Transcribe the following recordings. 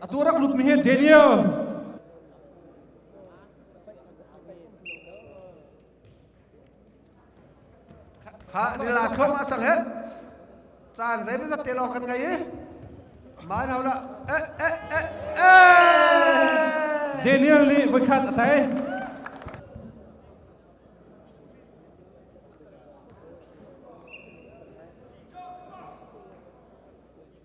atu rak lutmi hi Daniel kha nila thon ma tang he chan rei bezat te lo kan gai man hawla e e e e Daniel nih voi khat a tai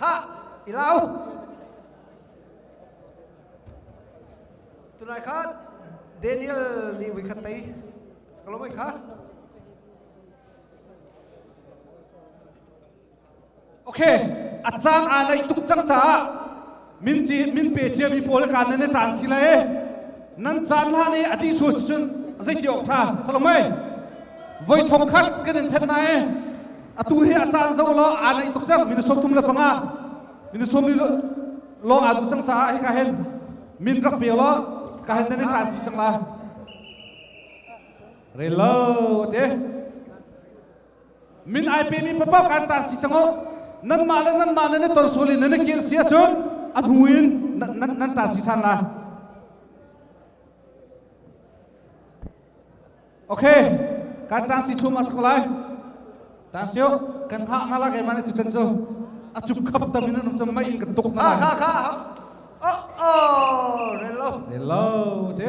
Khah! I lau! Tunai khan Daniel nih voi khat tei. Ka lomai kha. Ok, a caan aa naih tuk cang caah min ci min pe ciami pawl ka nan i taan si la e nan caan hlan i a ti sual si cun zei ti awk tha salomai voi thong khat kan in that na e atu hi a caan zo lo aa naih tuk cang min som tum le panga min som li lo aa du cang caah hi ka hen min rak pe lo ka hen nan i taan si cang la relo te min ai pemi papa kan ta si chango nanmah le nanmah ne tor sul in ne kir si ahcun a bu in nan nan ta si than la okay kan ta si chum asak lai ta sio kan ha ngala ke mane tu tan cho achup khap tam in anum chama in kan tuk na ka ka ka oh oh hello hello te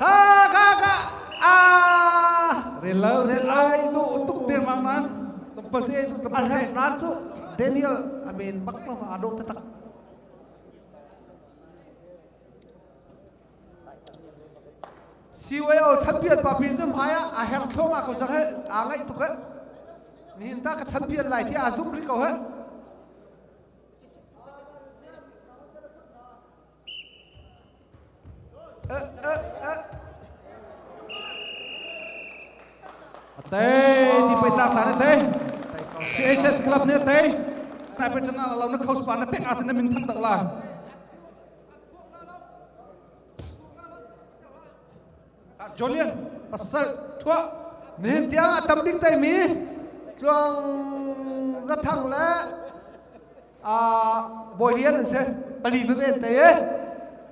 Ka ka ka aa rel lo rel ai du tuk te mang man tum pa se tu tum pa se ran chu Daniel amen bak lo ma do ta tak CYO champion pa pin zum hai a hang thlong a ko jang he a ngai tuk he ni hin ta ka champion lai thi a zum ri ko he CHS club nih a tei nai pe chang ala lo na coach pa na tek asin na min thang tak la Jolian pasal thua nihin tiang a tam bik tai mi tluang zathang le a bawi lian an si pali veve an tai e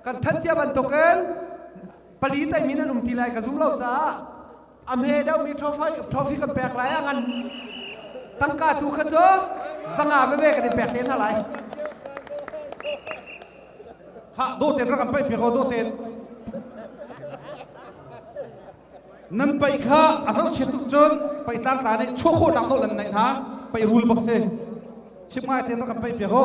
kan that cia bantuk in pali tai mi nan um ti lai ka zum lo caah a me dau mi trophy trophy kan pek lai a ngan tangka tu kha cu zanga veve kan in pek te hna lai ha dawten rak an paih piak ko dawten nan paih kha a zoh chiat tuk cun paih tlang tla nih chuah khawhnak dawh lan naih hna paih rul bak si chip ngai ten rak an paih piak ko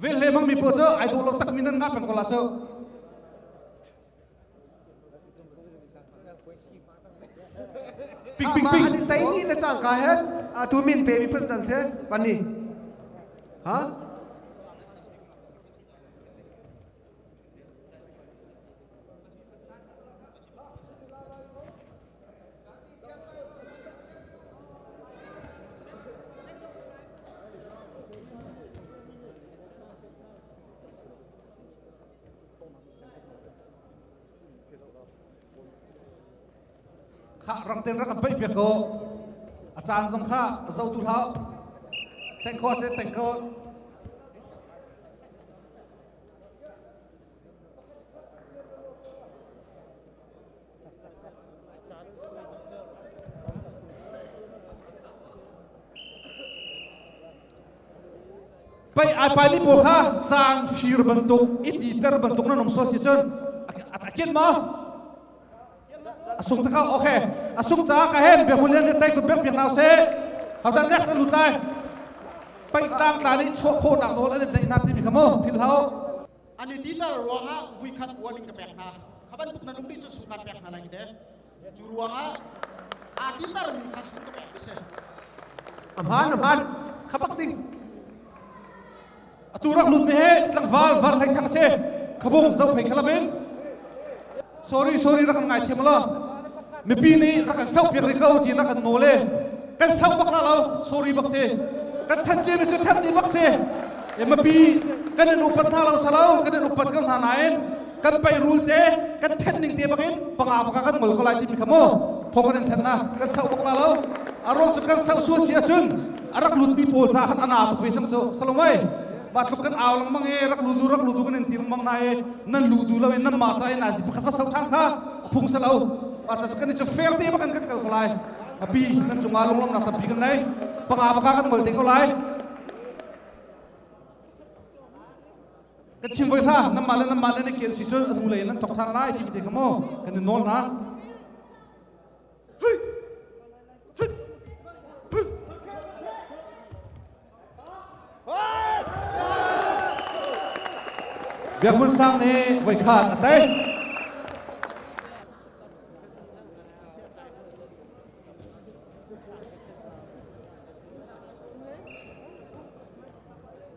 Veh le mang mi paw cu ai dawh lo takmi nan ngah peng ko la cu. Pik pik pik. Ani tai ni le chang ka he a tu min te mi put nan se pani. Ha? kha rak ten rak bai pe ko a caan zong kha zo tu hlau teng ko che teng ko pei ai pai mi pawl kha caan fir bantuk iti ter bantuk na nong so si cun a ket ma a sung takau okay a sung ca ka hem bia bulian le tai kut bek piak nau se hautan lex an lut lai pai tang tla ni chuah kho nak nawl an dai na ti mi khamu phil hau ani ti ta ruanga vui khat warning ka pek na khaban tuk na lungri chu sukan pek na lai te chu ruanga a ti tar mi kha sung ka pek se aman aman khapak ding atu rak lut me he tlangval var hlei thang se khabung zo phei khalap in sorry sorry rak kan ngai thiam la mipi nih rak kan sau piak ri ko ti nak kan no le kan sau bak la lo sorry bak se kan than ce mi cu than ni bak se e mapi kan in upat hna lo salo kan in upat ko hna nain kan peirul te kan thenh ning te bangin panga panga kan ngol ko lai timi kha mu thong kan in thenh na kan sau bak la lo a ruang cu kan sau sual si ahcun a rak lutmi pawl ca khan ana tuk ve cang cu salomai batluk kan au lang mang e rak ludu rak ludu kan in ti mang na e nan ludu lo in nan ma ca e na zi pakhat ka sau than kha phung salo a sa kan ni fair te bakan kan kal ko lai api nan cunga longlam na tampi kan nei panga paka kan ngol te ko lai ka chim voi hra nanmah le nanmah le na ke si cu a hnu lei nan thok ṭhan lai ti te kha maw kan i nawl na Biak Mun Sang nih voi khan a tei.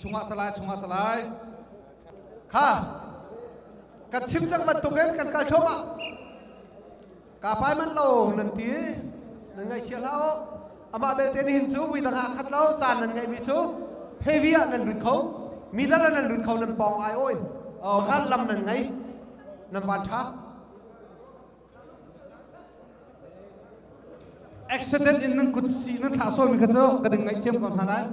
chungah salai chungah salai kha ka chim cang bantukin kan kal thluamah ka pai manh lo nan ti nan ngaihchia hlah u amah belte nihin cu vui dang ah khat lo caan nan ngeihmi cu hevi ah nan lut kho mi dal nan lut kho nan pawng ai oi ngan lam nan ngei nan van ṭha accident in nan kut si nan thlah sualmi kha cu ka ding ngaihthiam ko hna lai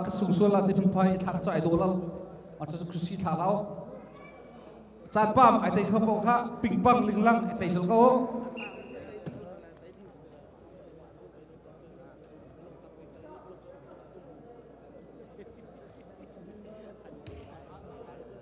ka sung sual la ti phunphai i thla cu ai daw lo a cu kusi thla lau caan pam ai tei kho ko kha pingpang linglang ai tei col ko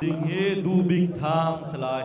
Ding hi du bik thang se lai.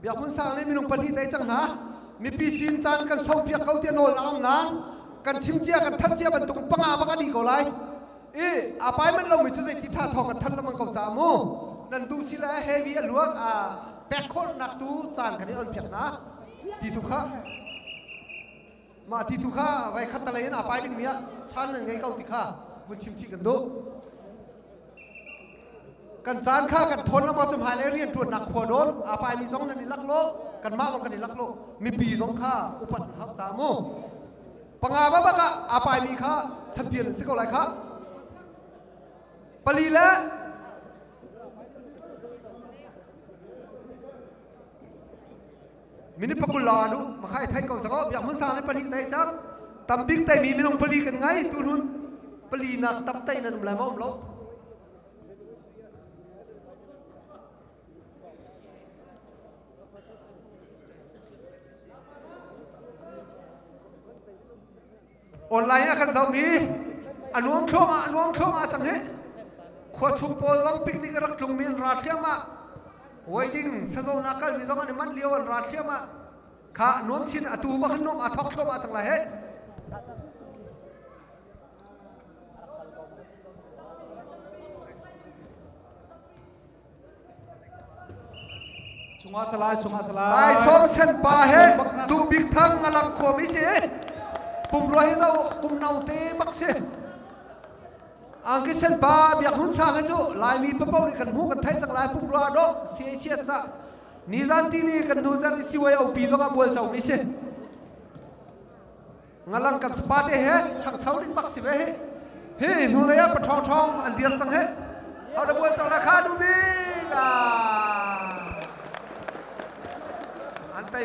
biak hmun sang nih minung pahnih tei cang hna mipi sin caan kan saupiak ko tiah nawl a am nain kan chim cia kan thanh cia bantuk panga bak a ni ko lai i appointment lomi cu zeiti ṭha thawng kan thanh lengmang ko caah mu nan duh si le heavy a luat a pek khawhnak tu caan kan i on piak hna ti tu kha mah ti tu kha vai khat talei in apai dingmi ah chan nan ngei ko ti kha vun chim chih kan duh kan caan kha kan thawn lama cum hai le rian ṭuannak khua dol apai mi zong nan i lak lo kan mah zong kan i lak lo mipi zong kha upat hap ca mu panga babak ah aa paimi kha champion an si ko lai kha pali le minute pakul la nu makhai thai ko sango biak mun sang le pali tai chak tambik tai mi minung pali kan ngai tu nun pali nak tap tai nan um lai ma um lo online ah kan zohmi a nuam thluahmah a nuam thluahmah cang hi khua chung pawl long picnic a rak tlungmi an ra thliahmah wedding sazon ah kalmi zong an manh lio an ra thliahmah kha nuam chin a tu ma khan nuam a thok thluahmah cang la he Chungah salai, chungah salai. Lai song sen pa he tu bik thang ngalang khom i si. Pumrua hi lo kum no te bak si. Angki sen pa biak nun sang cu Laimi papo ni kan mu kan thai chak lai pumrua do si chia sa. Ni zan ti ni kan nu zan si wai au pi zonga bual chau mi si. ngalang kan fapa te he ṭhangcho ning bak si ve hi hi hnu lei ah paṭhawng ṭhawng an dir cang he hau da buan cang la kha nu bik ah an tei